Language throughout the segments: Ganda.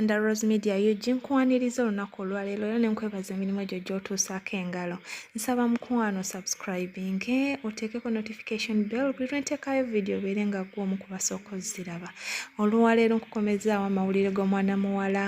under Rose Media UG nkwaniriza olunaku olwaleero era nenkwebaza emirimu gyo gy'otuusaako engalo nsaba mukwano subscribing oteekeko notification bell buli lwenteekayo vidiyo obeere nga gwe omu kubasooka oziraba olwaleero nkukomezaawo amawulire g'omwana muwala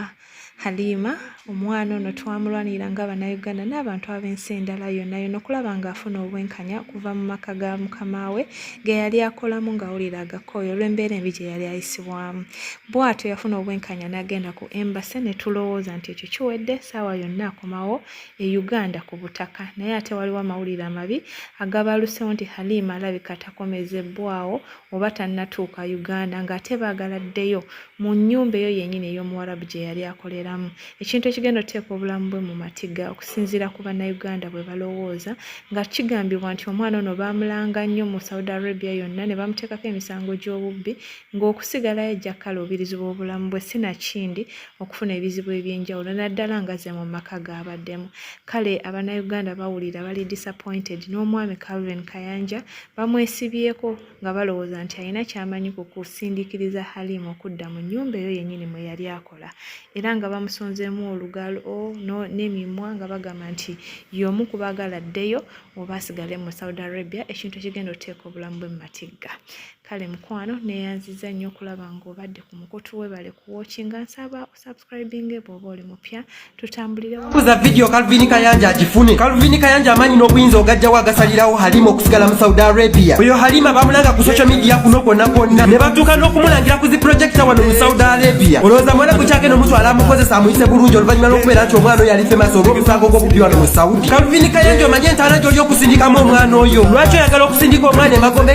Halima omwana ono twamulwanirira nga Bannayuganda n'abantu ab'ensi endala yonna yonna okulaba ng'afuna obwenkanya okuva mu maka ga mukama we ge yali akolamu ng'awulira agakooyi olw'embeera embi gye yali ayisibwamu. Bw'atyo yafuna obwenkanya n'agenda ku embase ne tulowooza nti ekyo kiwedde ssaawa yonna akomawo e Uganda ku butaka naye ate waliwo amawulire amabi agabalusewo nti Halima alabika takomezebbwawo oba tannatuuka Uganda ng'ate baagala addeyo mu nnyumba eyo yennyini ey'omuwarabu gye yali akoleramu ekintu ekigenda oteeka obulamu bwe mu matiga okusinziira ku bannayuganda bwe balowooza nga kigambibwa nti omwana ono baamulanga nnyo mu saudi arabia yonna ne bamuteekako emisango gy'obubbi ng'okusigalayo ajja kukala obirizi bw'obulamu bwe si nakindi okufuna ebizibu eby'enjawulo naddala nga ze mu maka gaabaddemu kale abannayuganda bawulira bali disappointed n'omwami calvin kayanja bamwesibyeko nga balowooza nti alina kyamanyi ku kusindikiriza Halim okudda mu nnyumba eyo yennyini mwe yali akola era nga bamusonzeemu olugalo oh, n'emimwa nga bagamba nti y'omu ku baagala addeyo oba asigale mu Saudi Arabia ekintu ekigenda okuteeka obulamu bwe mu matigga kale mukwano neeyanziza nnyo okulaba ng'obadde ku mukutu webale kuwookinga nsaba subscribinge bwoba oli mupya tutambulirebuza vidiyo kalvini kayanja agifune kalvini kayanja amaanyi n'obuyinza ogajjawo agasalirawo halima okusigala mu saudi arabia oyo halima bamulanga ku social media kuno kwonna kwonna ne batuuka n'okumulangira ku zi projekita wano mu saudi arabia olowooza mwana gukyagenda omutwala amukozesa amuyise bulungi oluvannyuma lw'okubeera nti omwana oyo alife maaso olw'omusango gw'obubi wano mu saudi kalvini kayanja omanye entaana gy'oli okusindikamu omwana oyo lwaki oyagala okusindika omwana emagombe